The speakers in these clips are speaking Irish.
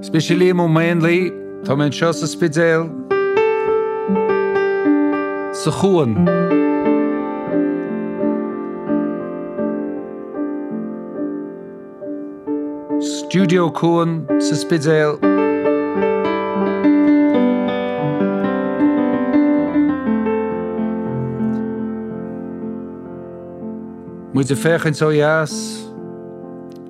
Is mise Liam Ó Maonlaí. Tá mé anseo sa Spidéal, sa chuan. Stiúideo Cuan sa Spidéal. Muid ag féachaint ó dheas.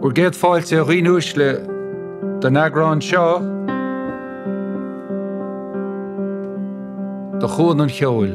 Bhur gcéad fáilte a dhaoine uaisle don eagrán seo de Chuan an Cheoil.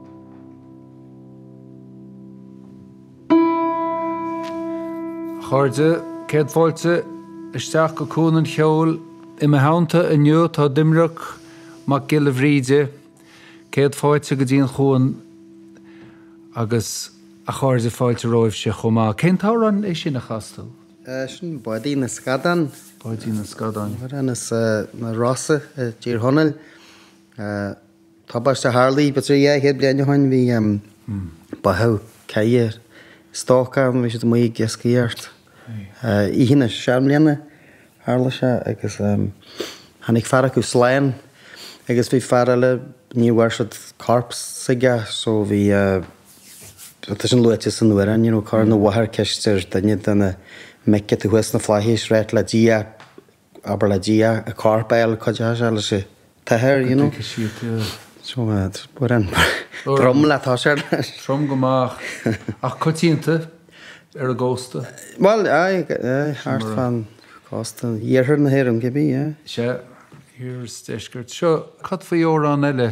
A chairde, céad fáilte isteach go Cuan an Cheoil. I mo theannta inniu tá Doimnic Mac Giolla Bhríde. Céad fáilte go dtí an chuan agus a chairde fáilte romhaibhse chomh maith. Cén t-amhrán é sin a chas tú? É sin Bádaí na Scadán. Bádaí na Scadán. Amhrán as na Rosa i dTír Chonaill. Tubaist a tharla b'fhéidir dhá chéad bliain ó shoin bhí báitheadh ceathrar stócach ann bhí siad amuigh ag iascaireacht oíche na seanbhliana tharla sé agus tháinig fear acu slán agus bhí fear eile ní bhfuair siad corp s'aige so bhí tá sin luaite san amhrán you know cuireann an mháthair ceist ar duine de na mic atá thuas sna flaithis a ráit le Dia abair le Dia, an corp a fháil, cuid de seo, leis an athair, you know. Go dtiocfaidh siad de. So, amhrán trom le toiseacht air. Trom go maith. Ach coitianta ar an gcósta? Bhuel, aye, aye, thart fán chósta. Iarthar na hÉireann, cibé, yeah. Sea, iarthar 's deisceart. Seo, cad faoi amhrán eile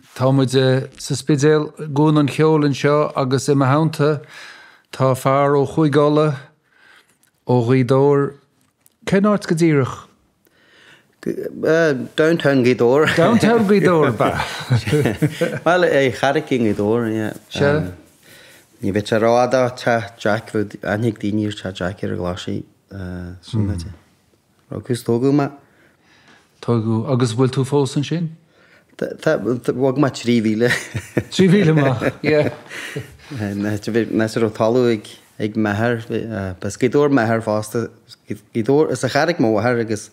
Tá muid sa Spidéal, i gCuan an Cheoil anseo agus i mo theannta tá fear ó Chúige Uladh, ó Ghaoth Dobhair. Cén áit go díreach? Downtown Gaoth Dobhair. Downtown Gaoth Dobhair, ba. Bhuel, an Charraic i nGaoth Dobhair, yeah. Sea. Ní bheadh sé rófhada ó Teach Jack, bheadh, aithneoidh daoine Teach Jack ar an gclár C.U. Burn. Agus tógadh mé. Tógadh. Agus bhfuil tú fós ansin? Tá, tá, bhog mé trí mhíle. Trí mhíle amach, yeah. Mé sa raibh talamh ag, ag m'athair, b'as Gaoth Dobhair m'athair fosta, as Gaoth Dobhair, as an Charraic mo mháthair agus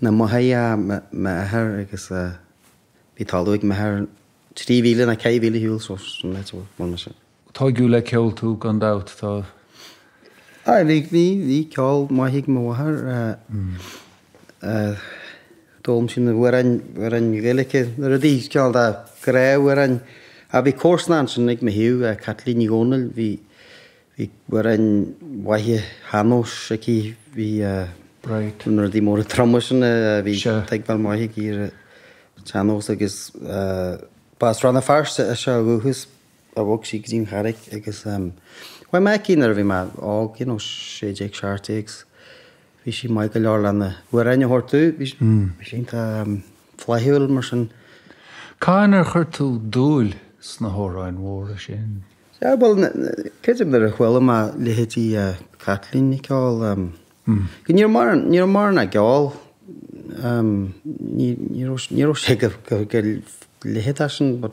na Machairí m'athair agus bhí talamh ag m'athair trí mhíle nó ceithre mhíle ar shiúl, so, sin áit a bhfuair mé sin. Tógadh le ceol tú gan dabht, tá. Aye, bhí, bhí, bhí ceol maith ag mo mháthair. D'fhoghlaim sí na hamhráin, amhráin Ghaeilice, na rudaí, cineál de ghrá, amhráin. Ach bhí comharsanach ansin ag mo thaobh, Caitlín Ní Dhomhnaill, bhí, bhí amhráin mhaithe shean-nóis aici, bhí Right. na rudaí móra troma sin, a bhí Sure. tuigbheáil mhaith aici ar an tsean-nós agus b'as Rann na Feirste ise ó dhúchas. ach bhog sí go dtí an Charraic agus chuaigh mé aici nuair a bhí mé óg, you know, sé déag, seacht déag agus bhí sí maith go leor lena hamhráin a thabhairt domh, bhí sí iontach flaithiúil mar sin. Cathain ar chuir tú dúil sna hamhráin mhóra sin? Sea, bhuel, creidim nuair a chuala mé leithéidí Caitlín ag ceol, go ní raibh mórán, ní raibh mórán ag ceol, ní, ní raibh, ní raibh sé go, go, go leithéidí sin but.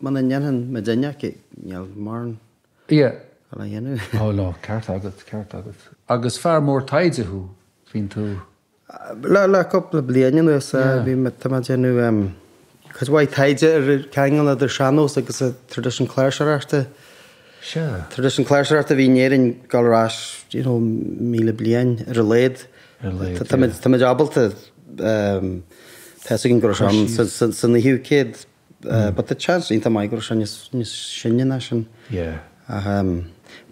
Muna ndéanfainn mo duine aici, ní raibh mórán á dhéanamh. Ó no, ceart agat, ceart agat. Agus fear mór taighde thú, bíonn tú. Le cúpla bliain anuas, bhí mé, tá mé ag déanamh cuid mhaith taighde ar an ceangal idir sean-nós agus an traidisiún cláirseoireachta. Sea. Traidisiún cláirseoireachta a bhí in Éirinn ag dul ar ais, you know, míle bliain, ar a laghad. Ar a laghad, yeah. Tá muid ábalta, tá a fhios againn go raibh sé ann san naoú céad. But tá seans iontach maith go raibh sé níos sine ná sin. Ach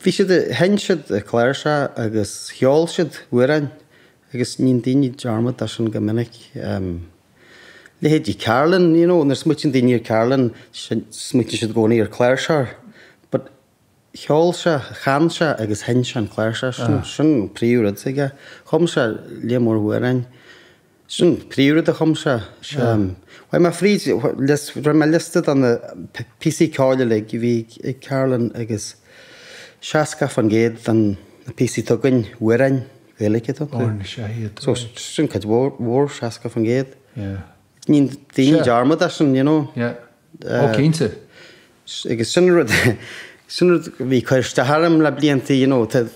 bhí siad, sheinn siad an chláirseach agus cheol siad amhráin agus níonn daoine dearmad de sin go minic. Leithéidí Carolan, you know, nuair smaoitíonn daoine ar Carolan, smaoitíonn siad i gcónaí ar an chláirseach. But Cheol sé, chan sé agus sheinn sé an cláirseach. Sin, sin an príomh rud aige. Chum sé líon mór amhráin. Sin an príomh rud a chum sé. Chuaigh mé fríd, rinne mé liosta de na píosaí ceoil uilig a bhí ag Carolan agus seasca faoin gcéad de na píosaí atá againn, amhráin Ghaeilge atá iontu. Amhráin is ea iad. So, sin cuid mhór, mhór, seasca faoin gcéad. Yeah. Ní daoine dearmad de sin, you know. Yeah. Ó, cinnte. Agus sin an rud, sin rud a bhí ag cur isteach orm le blianta, you know, tá,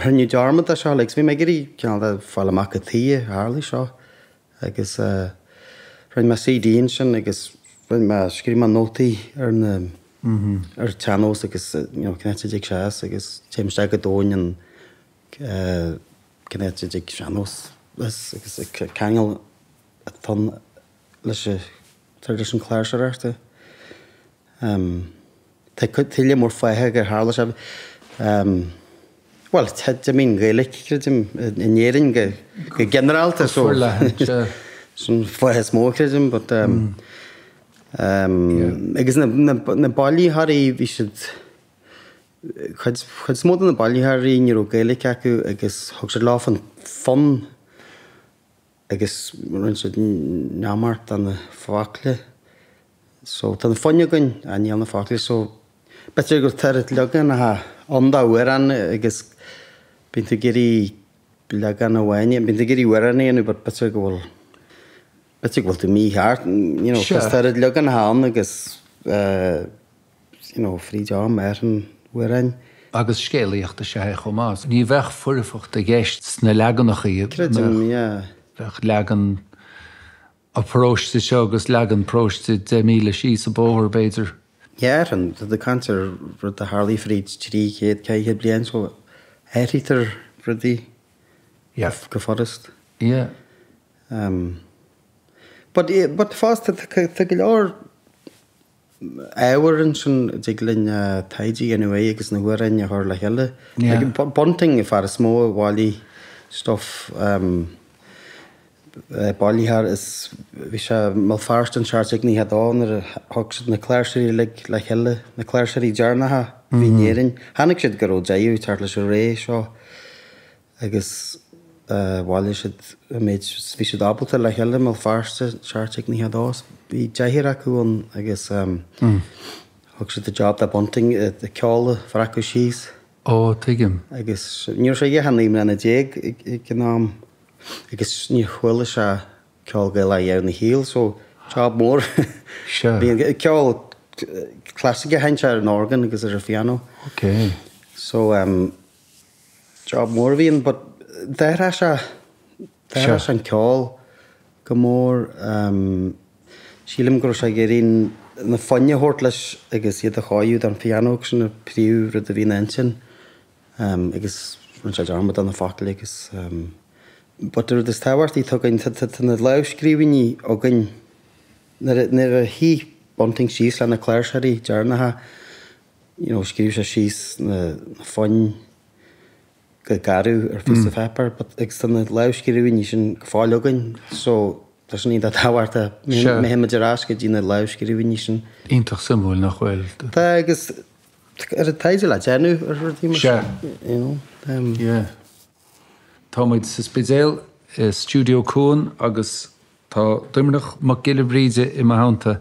rinneadh dearmad de seo, like, so bhí mé ag iarraidh cineál de fáil amach cad tuighe a tharlaigh seo. Agus rinne mé CD ansin agus rinne mé, scríobh mé nótaí ar na, ar an tsean-nós agus, you know, cén áit a dtáinig sé as agus téim isteach go domhain ann, cén áit a dtáinig an sean-nós agus an ceangal atá ann. leis an tradition cláirseoireachta. Tá cuid tuile mór fáth gur tharla seo. Bhuel, d'imigh an Ghaeilic, creidim, in Éirinn go ginearálta. Go forleathan, sea. Sin an fáth is mó, creidim, but agus na bailitheoirí, bhí siad, cuid is mó de na bailitheoirí ní raibh Gaeilic acu agus thug siad leofa an fonn agus rinne siad neamart de na focla so tá na foinn againn ach níl na focla so b'fhéidir go bhfuil toirt leaganacha ann d'amhrán agus bíonn tú ag iarraidh leagan amháin bíonn tú ag iarraidh amhrán a dhéanamh but b'fhéidir go bhfuil b'fhéidir go bhfuil tú mícheart you know tá toirt leaganacha ann agus eh you know, fríd am ar an bhfoireann. agus scéalaíocht is ea é chomh maith. Ní bheadh foirfeacht i gceist sna leaganacha iad. Creidim, yeah. Bheadh leagan an pharóiste seo agus leagan paróiste deich míle síos an bóthar, b'fhéidir. Tá muid ag caint ar rud a tharlaigh fríd trí chéad caoga bliain, so athraítear rudaí go furast. Yeah. But, but fosta, tá go leor ábhar ansin a dtig linn taighde a dhéanamh uaidh agus na hamhráin a chur le chéile. Bunting an fear is mó a bhailigh stuif bailitheoir is bhí sé i mBéal Feirste i seacht déag nócha a dó nuair a thug siad na cláirseoirí uilig le chéile, na cláirseoirí deireanacha a bhí in Éirinn. Chonaic siad go raibh deireadh ag teacht leis an ré seo. agus bhailigh siad an méid a bhí siad ábalta le chéile i mBéal Feirste, seacht déag 92 agus bhí deichniúr acu ann agus thug siad an job do Bunting an ceol a bhreacadh síos. Ó, tuigim. Agus ní raibh sé ach naoi mbliana déag ag an am agus níor chuala sé ceol Gaelach ariamh ina shaol so job mór Sure. a bhí ann, ceol clasaiceach a sheinn sé ar an orgán agus ar an phiano. Okay. So, Job mór a bhí ann but d'athraigh sé, d'athraigh sé an ceol go mór. Sílim go raibh sé ag iarraidh na foinn a thabhairt leis agus iad a chóiriú don phianó agus sin an príomhrud a bhí ina intinn agus rinne sé dearmad de na focail agus but an rud is tábhachtaí atá againn, tá na lámhscríbhinní againn, nuair a shuigh Bunting síos le na cláirseoirí deireanacha, you know scríobh sé síos na foinn go garbh ar phíosa páipéir but agus tá na lámhscríbhinní sin go fóill againn so tá sin iontach tábhachtach má théann muid ar ais go dtí na lámhscríbhinní sin. Iontach suimiúil nach bhfuil? Tá agus a lán taighde le déanamh ar rudaí mar sin you know. Um, yeah. Tá muid sa Spidéal i Stiúideo Cuan agus tá Doimnic Mac Giolla Bhríde i mo theannta.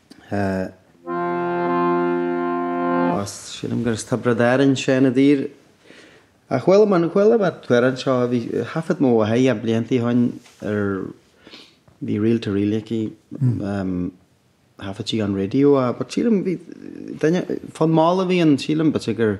Ó sílim gur as Tiobraid Árann Seán Ó Duibhir. Ach chuala mé, chuala mé thart anseo, bhí, thaifead mo mháthair é blianta ó shoin ar, bhí reel to reel aici, thaifead sí ón raidió, but sílim bhí duine, fonn mall a bhí ann, sílim, b'fhéidir gur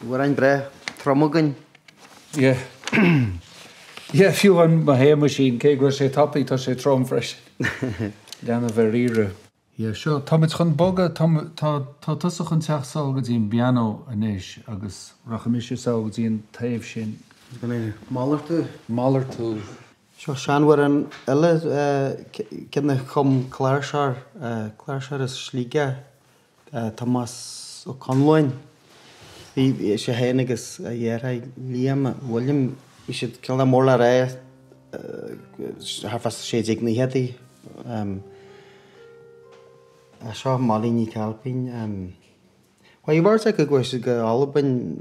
Bhí amhráin breith trom againn. Yeah. Yeah, fiú amháin Mo Shéamaisín, cé go bhfuil sé tapaidh, tá sé trom freisin. Leanbh ar iarraidh. Yeah, seo, táimid chun bogadh, tá, tá, tá tusa chun teacht sall go dtí an bpianó anois agus rachaidh mise sall go dtí an taobh sin. Is gan é. Malartú. Malartú. Seo seanamhrán eile, eh, ceann a chum cláirseoir, eh, cláirseoir as Sligeach. Tomás Ó Conalláin, bhí sé féin agus a dheartháir Liam William, bhí siad cineál mór le rá thart fá sé déag nóchaidí. Tá seo Molly Nic Ailpín, chuaigh beirt acu, chuaigh siad go Albain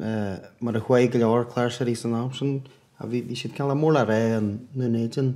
mar a chuaigh go leor cláirseoirí san am sin, bhí siad cineál mór le rá i nDún Éideann.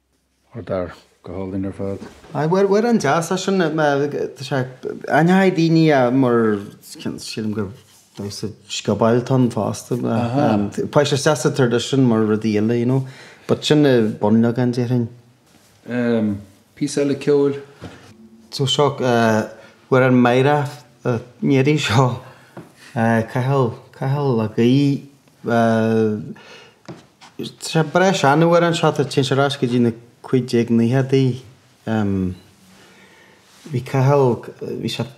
Mar dar, go hálainn ar fad. Aye, amhrán deas é sin, tá sé, aithníonn daoine é mar, sílim gur damhsa sciobóil atá ann fosta, tá sé deas sa tradition mar rudaí eile, you know, but sin an bunleagan déarfainn. Ehm, píosa eile ceoil? So seo, amhrán meidhreach an iarraidh seo, Cathal, Cathal Mac Aoidh. Tá breis san amhrán seo, tá, téann sé ar ais go dtí na 1590idí. Bhí Cathal, bhí sé ag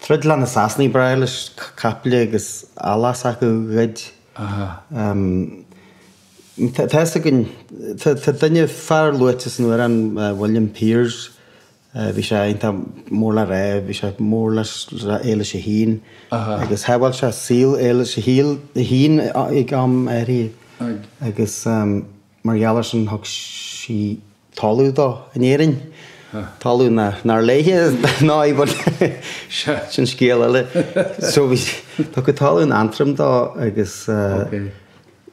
troid le na Sasanaigh, breá leis caiple agus eallach s'acu a ghoid. Tá fhios againn, tá duine, fear luaite san amhrán, William Piers, Bhí sé iontach mór le rá. Bhí sé mór le hEilís a hAon agus shábháil sé saol Eilís a hAon ag am éigin agus mar gheall ar sin thug sí talamh dó in Éirinn. Talamh nár léi é bhuel sin scéal eile. So bhí tugtha talamh in Antrim dó agus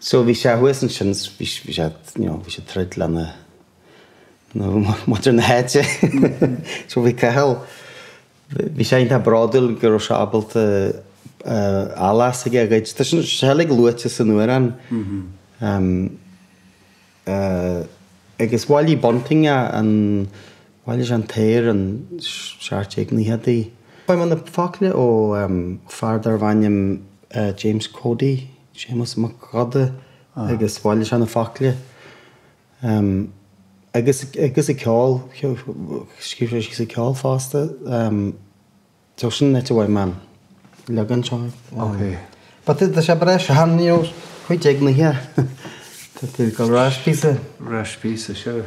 so bhí sé thuas ansin bhí sé you know bhí sé ag troid lena muintir na háite. So bhí Cathal, bhí sé iontach bródúil go raibh sé ábalta a eilit aige a ghoid. Tá sé uilig luaite san amhrán. Agus bhailigh Bunting é, an, bhailigh sé an t-aer, an t-ochtú haois déag. Bhain sé na focail ó fear darbh ainm James Cody, Séamus Mac Óda, agus bhailigh sé na focail. Um, agus, agus an ceol, scríobh sé síos an ceol fosta. Um, so sin an áit a bhfuair mé an leagan seo. Ok. But tá sé breis handy ó chuid ag na hea. Tá tú go ráis písa. Ráis písa, sure.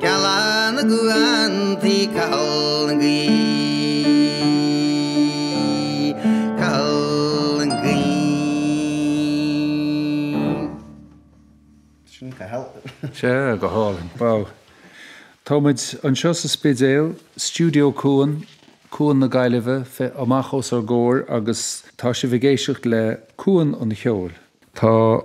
Gealán na gcuan tí Cathal na gcaoi, Cathal na gcaoi. Sin Cathal. Sea, go hálainn. Wow. Tá muid anseo sa Spidéal, Studio Cuan, Cuan na Gaillimhe féin amach os ár gcomhair agus tá sibh ag éisteacht le Cuan an Cheoil. Tá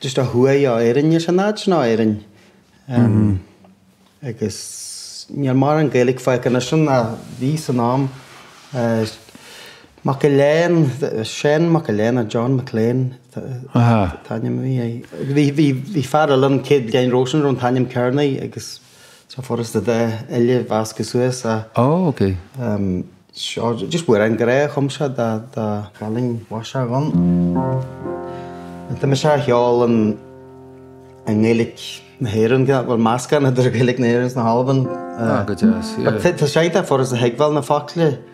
Just ó thuaidh ó Éirinn is an áit ná Éirinn agus níl mórán Gaeilic fágtha anois ann a bhí san am. Mac Giolla Eáin, Seán Mac Giolla Eáin nó John McLean an t-ainm a bhí air. Bhí fear eile an chéad Gleann Róisín a raibh an t-ainm Kearney agus. Tá sé furast a bheith uile mheasctha suas a. Ó, ok. Em, seo, just amhrán grá a chum sé dá, dá. Cailín Mhaiseach Dhonn. Tá mise á cheol an, i nGaeilic na hÉireann, gidh bhfuil meascán idir Gaeilic na hÉireann 's na hAlban. Ó, go deas, yeah. Tá sé iontach furast a thuigbheáil na focla.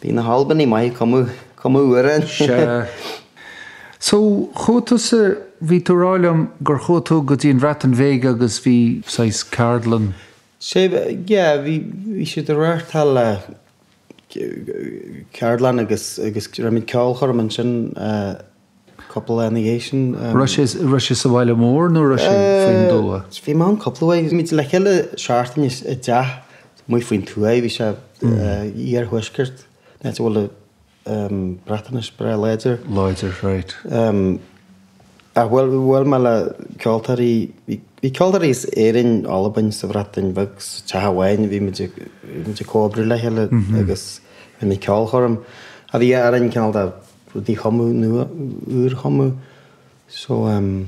Bhí na hAlbanaigh maith ag cumadh, cumadh amhrán. Sea. So, chuaigh tusa, bhí tú ag rá liom gur chuaigh tú go dtí an Bhreatain Bheag agus bhí saghas ceardlann. Sea, yeah, bhí, bhí siad ag reáchtáil eh, ceardlann agus, agus rinne muid ceolchoirm ansin eh. Cúpla lá ina dhiaidh sin. Raibh sé sa bhaile mór nó raibh sé faoin dtuath? Bhí mé ann cúpla uair. Bhí muid le chéile seachtain i dteach amuigh faoin tuaith. Bhí sé iarthuaisceart, áit a bhfuil Breatainis breá láidir. Láidir, raight. Ach bhuail mé le ceoltóirí, bhí ceoltóirí as Éirinn, Albain, sa Bhreatain Bheag, sa teach amháin. Bhí muid ag comhoibriú le chéile agus rinne muid ceolchoirm. Bhí amhráin cineál de rudaí a chumadh nua, úr a chumadh. So ehm,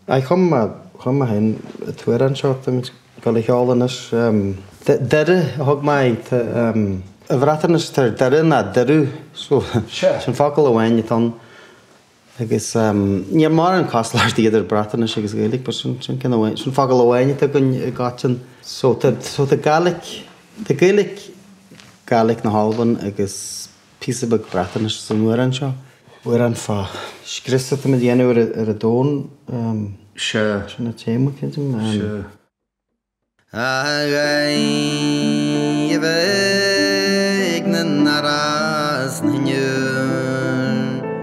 aye, chum mé, chum mé féin an t-amhrán seo atá muid ag gabháil a cheol anois ehm, Doire a thug mé air, tá ehm, i mBreatnais tá Doire ná derw, so sin focal amháin atá ann agus ehm, níl mórán cosúlachtaí idir Breatnais agus Gaeilge but sin, sin ceann amháin, sin focal amháin atá againn i gcoiteann. So tá, so tá Gaelic, tá Gaelic, Gaelic na hAlban agus. píosa beag Breatnaise san amhrán seo. Amhrán fán scrios atá muid a dhéanamh ar an domhan. Sea. Sin an téama, creidim. Sea. Agaibh ag na narais na ndeor.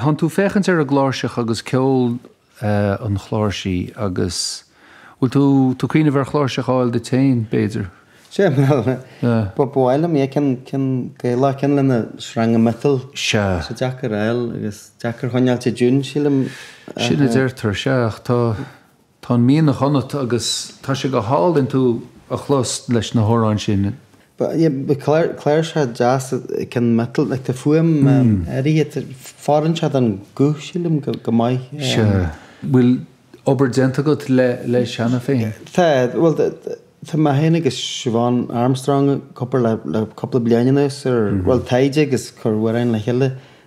Thánn tú ag féachaint ar an gcláirseach agus ceol an chláirsí agus bhfuil tú tú ag cuimhneamh ar chláirseach a fháil duit féin, b'fhéidir? Sea, bhuel, ba mhaith liom é, ceann, ceann Gaelach, ceann lena sreanga miotail. Sea. Sea, deacair a fháil agus deacair a choinneáilt i dtiún, sílim. Sin a deirtear, sea, ach tá. Tá an mianach ionat agus tá sé go hálainn tú a chlos leis na hamhráin sin. Ba, yeah, ba cláir, cláirseach deas, cionn miotail, like tá fuaim áirithe, fóireann sé don ghuth sílim go maith. Sea. Bhfuil obair déanta agat le, leis cheana féin? Tá, bhuel tá mé féin agus Siobhán Armstrong ag obair le, le cúpla bliain anuas ar, bhuel taighde agus ag cur amhráin le chéile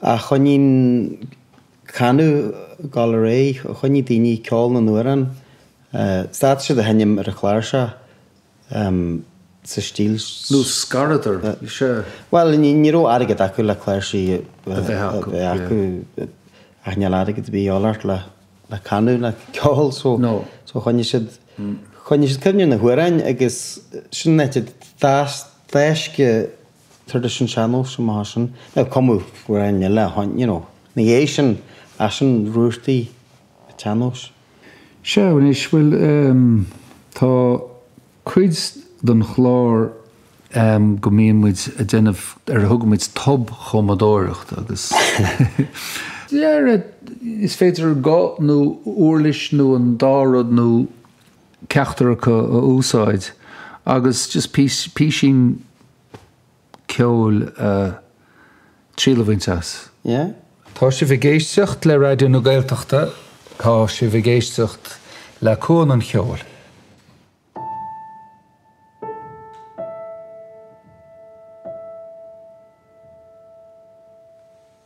a choinnigh an canadh ag gabháil ar aghaidh, a choinnigh daoine ag ceol na n-amhrán, stad siad a sheinm ar an chláirseach sa stíl nó scaradar, sea. Bhuel, ní raibh airgead acu le cláirsí a bheith acu, ach níl airgead ar bith a dhíth ort le canadh, le ceol, so choinnigh siad, choinnigh siad cuimhne ar na hamhráin agus sin an áit a d'fhás traidisiún sean-nóis amach as sin nó cumadh greann eile a tháinig you know ina dhiaidh sin ach sin rútaí an tsean-nóis. Seo anois, bhuel ehm tá cuid den chlár ehm go mbíonn muid a' déanamh ar a dtugaimid tobchumadóireacht agus yeah is féidir guth nó uirlis nó an dá rud nó. ceachtar acu a úsáid agus just písín ceoil, triail a bhaint as. Yeah. Tá sibh ag éisteacht le Raidió na Gaeltachta, tá sibh ag éisteacht le Cuan an Cheoil.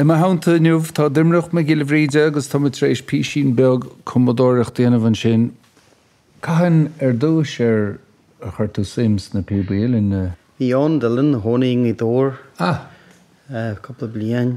I mo theannta inniu tá Doiminic Mac Giolla Bhríde agus tá muid tar éis písín beag cumadóireacht a dhéanamh ansin. Cathain ar dtús ar chuir tú suim sna píobaí uilleann? Bhí Eoin Dillon a tháinig i dtúr cúpla bliain.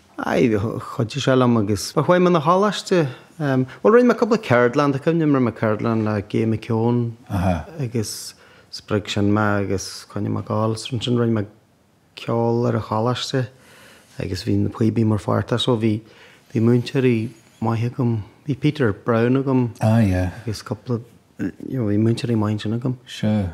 Aye, chuidigh sé liom agus but chuaigh mé na choláiste, em, bhuel rinne mé cúpla ceardlann, tá cuimhne rinne mé ceardlann le Gay McKeown agus spreag sin mé agus choinnigh mé ag gabháil leis, ansin rinne mé ceol ar an choláiste agus bhí na píobaí mar pháirt de, so bhí, bhí múinteoirí maith agam, bhí Peter Browne agam agus cúpla, you know, bhí múinteoirí maith ansin agam. Sure.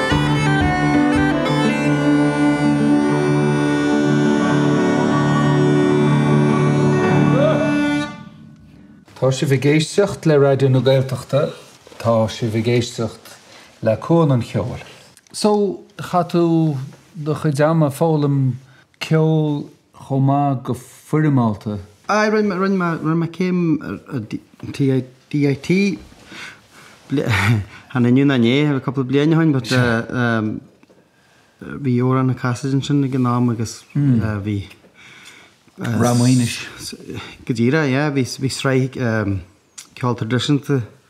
Tá sibh ag éisteacht le Raidió na Gaeltachta, tá sibh ag éisteacht le Cuan an Cheoil. So, chaith tú do chuid ama ag foghlaim ceol chomh maith go foirmeálta. Aye, rinne mé, rinne mé, rinne mé céim ar DIT, chan inniu ná inné, ar cúpla bliain ó shin but bhí Odhrán Ó Casaide ansin ag an am agus bhí, Ráth Maonais. go díreach, yeah, bhí sraith ceol traidisiúnta.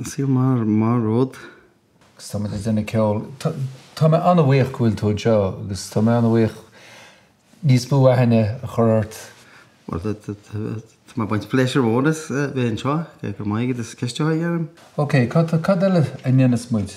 Is maith an rud. Agus tá muid ag déanamh ceoil. Tá mé an-bhuíoch go bhfuil tú anseo agus tá mé an-bhuíoch níos mó aithne a chur ort. Bhuel, tá mé ag baint pléisiúr mhór as bheith anseo. Go raibh maith agat as ceist a chur orm. Ok, cad eile a ndéanfas muid?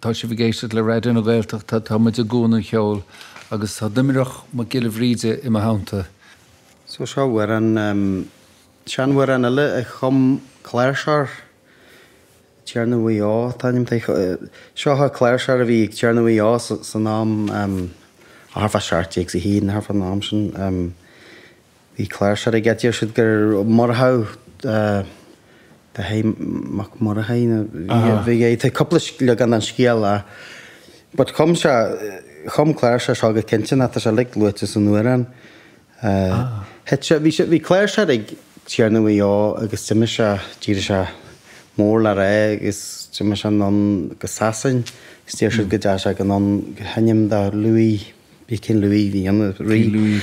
Tá sibh ag éisteacht le Raidió na Gaeltachta, tá muid i gCuan an Cheoil agus tá Doiminic Mac Giolla Bhríde i mo theannta. So seo amhrán, seanamhrán eile a chum cláirseoir Tiarna Mhaigh Eo, an t-ainm atá air, seo an cláirseoir a bhí ag Tiarna Mhaigh Eo san am, thart fá seacht déag is fiche, thart fán am sin. Bhí cláirseoir aige, deir siad gur murtagh Dáithí Mac Murchaidh a bhí air, tá cúpla leagan den scéal ann. But chum sé, chum cláirseoir seo go cinnte nó tá sé like luaite san amhrán. Thit sé, bhí sé, bhí cláirseoir ag Tiarna Mhaigh Eo agus d'imigh sé, d'éirigh sé mór le rá agus d'imigh sé anonn go Sasain agus deir siad go dteachaidh sé anonn go hainm do Louis, bhí King Louis, bhí an rí. Louis.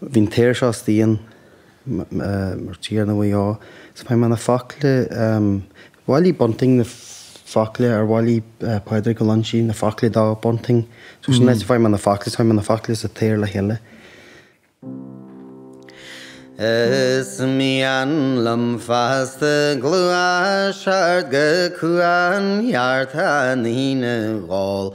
Bhí an t-aer seo is dian, mar Tiarna Mhaigh Eo, is fuair mé na focla, bhailigh Bunting na focla, or bhailigh Pádraig Ó Loingsigh na focla do Bunting, so sin is fuair mé na focla, is fuair mé na focla is an t-aer le chéile. Is mian liom feasta gluaiseacht go cuan ceart an fhíona a dh'ól,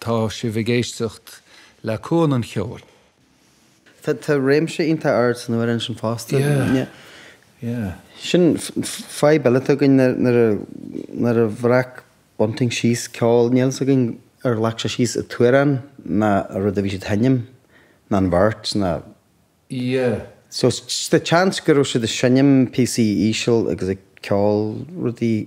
Tá sibh ag éisteacht le Cuan an Cheoil. Tá tá réimse iontach ard san amhrán sin fosta. Yeah. Yeah. Sin fadhb eile atá againn nuair nuair a nuair a bhreac Bunting síos ceol níl fhios againn ar ghlac sé síos an t-amhrán nó an rud a bhí siad a sheinm nó an bheirt nó Yeah. So, tá seans go raibh siad ag seinm píosaí íseal agus ag ceol rudaí.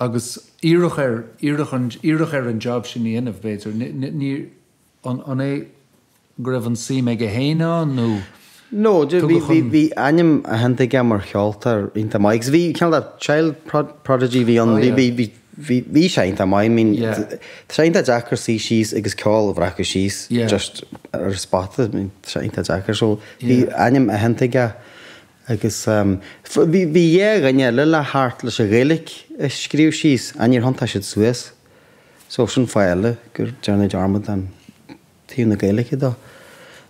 Agus iarradh air, iarradh an, iarradh air an jab sin a dhéanamh, b'fhéidir. Ní, ní, ní, an, an é go raibh an-suim aige féin ann nó No, de, bhí, tugadh bhí, chun. bhí ainm aitheanta aige mar cheoltóir iontach maith. Agus bhí, cineál de child prod, prodigy a bhí ann, Oh bhí, yeah. bhí, bhí, bhí, bhí sé iontach maith. I mean, Yeah. tá sé iontach deacair suí síos agus ceol a bhreacadh síos Yeah. just ar an spota. I mean, tá sé iontach deacair. So, bhí Yeah. ainm aitheanta aige. Agus bhí dhá dhuine eile le theacht leis an Ghaeilge a scríobh síos, ach níor thiontaigh siad suas. So sin fáth eile gur déanadh dearmad den taobh na Gaeilge dó.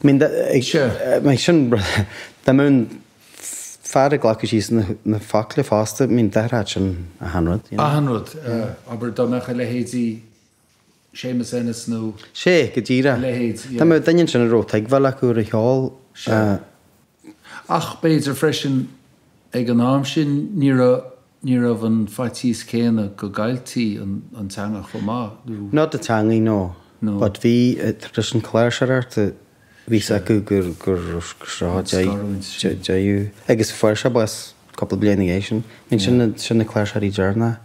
I mean, ag sin, dá mbeadh an fear ag glacadh síos na focla fosta, I mean, d'athródh sin achan rud, you know. Achan rud, abair, dá mbeadh a leithéidí. Séamus Ennis nó a. Sé, go díreach. leithéid, dá mbeadh yeah. duine ansin a raibh tuigbheáil acu ar an cheol. Sea. Ach b'fhéidir freisin, ag an am sin, ní raibh, ní raibh an faitíos céanna go gcailltí an, an teanga chomh maith, nó. Not the teangaidh, no. No. But bhí, traidisiún cláirseoireachta, bhí 's acu gur, gur, gur seo a d'éi, scarúint sin. dé, deireadh. Agus fuair sé bás cúpla bliain ina dhiaidh sin. B'in sin na, sin na cláirseoirí deireanacha.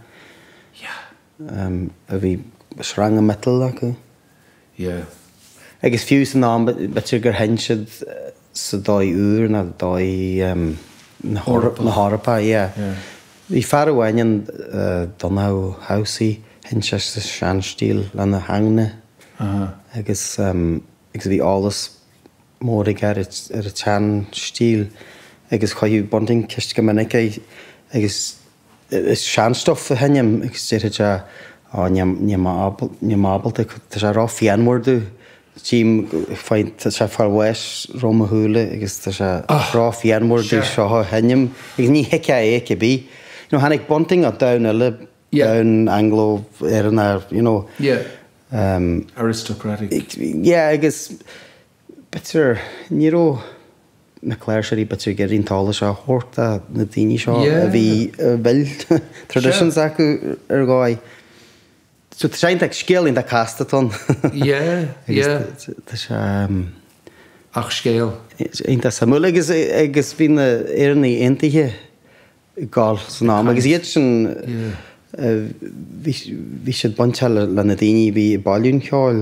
Yeah. a bhí sreanga miotail acu. Yeah. Agus fiú san am, b'fhéidir gur sheinn siad sa dóigh úr nó dóigh na hEorpa, yeah. Bhí fear amháin ann, Donncha Ó hAmhsaigh, sheinn sé sa seanstíl lena ingne agus bhí eolas mór aige ar an tseanstíl agus chuireadh Bunting ceist go minic air agus An sean-stuif a sheinm agus déarfadh sé á níl níl mé ábal níl mé ábalta tá sé ró phianmhar domh tchím faigh tá sé far west roimh mo shúile agus tá sé ró phianmhar domh seo a sheinm agus ní thuigfeá é cib bith you know tháinig Bunting as domhan eile domhan Anglo-Éireannach you know yeah aristocratic yeah agus B'fhéidir, ní raibh na cláirseoirí b'fhéidir ag iarraidh an t-eolas seo a thabhairt do na daoine seo a bhí, a bhfuil traditions acu ar dhóigh. So tá sé iontach, scéal iontach casta atá ann. Yeah, yeah. Tá sé, ehm. Ach scéal. Iontach suimiúil agus, agus bhí na Éireannaigh Aontaithe ag gabháil san am agus iad sin, bhí, bhí siad bainteach le na daoine a bhí ag bailiú an cheoil.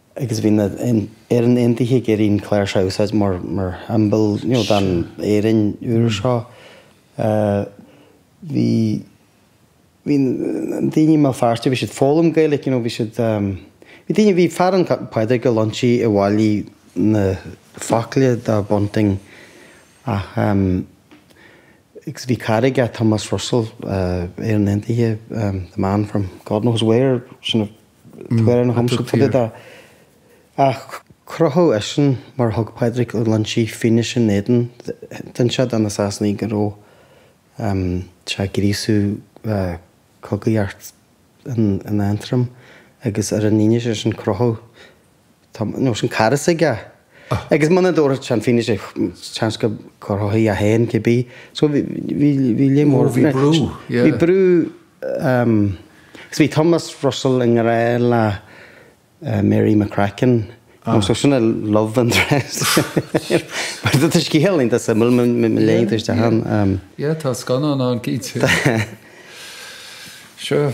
agus bhí na Éireannaigh Aontaithe ag iarraidh an chláirseach a úsáid mar shiombail den Éirinn úr seo. Bhí na daoine i mBéal Feirste, bhí siad ag foghlaim Gaeilge, you know, bhí siad, bhí daoine, bhí fear ann, Pádraig Ó Loinsigh, a bhailigh na focla do Bunting ach, agus bhí cara aige, Thomas Russell, Éireannach Aontaithe, the man from God knows where, Tá amhrán cumtha fá dtaobh de ach crochadh eisean mar thug Pádraig Ó Loinsigh fianaise ina éadan d'inis sé do na Sasanaigh go raibh sé ag gríosú cogaidh thart in Aontroim agus ar an fhianaise sin crochadh Tomás, an cara s'aige. Agus muna dtabharfadh sé an fhianaise, seans go gcrochfaí é féin cibé. So bhí, bhí, bhí líon mór. Ó bhí brú, yeah. Bhí brú, agus bhí Thomas Russell i ngrá le Mary McCracken. Nó so sin an love interest. Tá scéal iontach suimiúil, má léann tú isteach ann. Yeah, tá scannán ann, cinnte. Sure.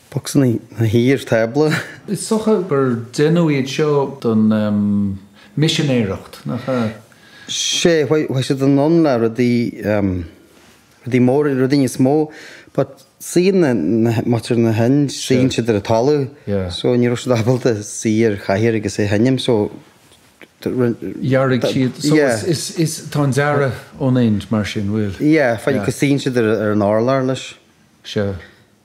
Boxanna na hIar Tábla. Is dócha gur deineadh iad seo don misinéireacht, nach ea? Sea, bheadh siad in ann le rudaí, rudaí móra, rudaí níos mó, but suíonn na, muintir na hIndia, suíonn siad ar an talamh, so ní raibh siad ábalta suí ar chathaoir agus a sheinm, so dhear siad, so is, tá an dearadh ón Ind mar sin, bhfuil? Yeah, faoi, go suíonn siad ar an urlár leis. Sea.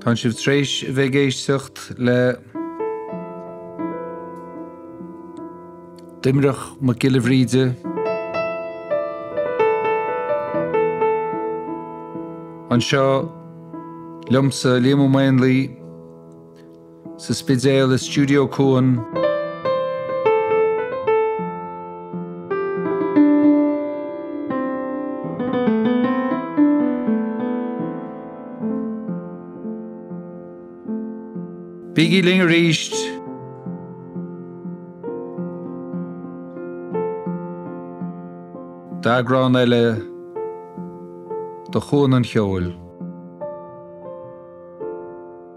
Tá sibh tar éis a bheith ag éisteacht le Doimnic Mac Giolla Bhríde, anseo liomsa, Liam Ó Maonlaí, Sa Spidéal i Stiúideo Cuan. Bígí linn arís! d'eagrán eile de Chuan an Cheoil.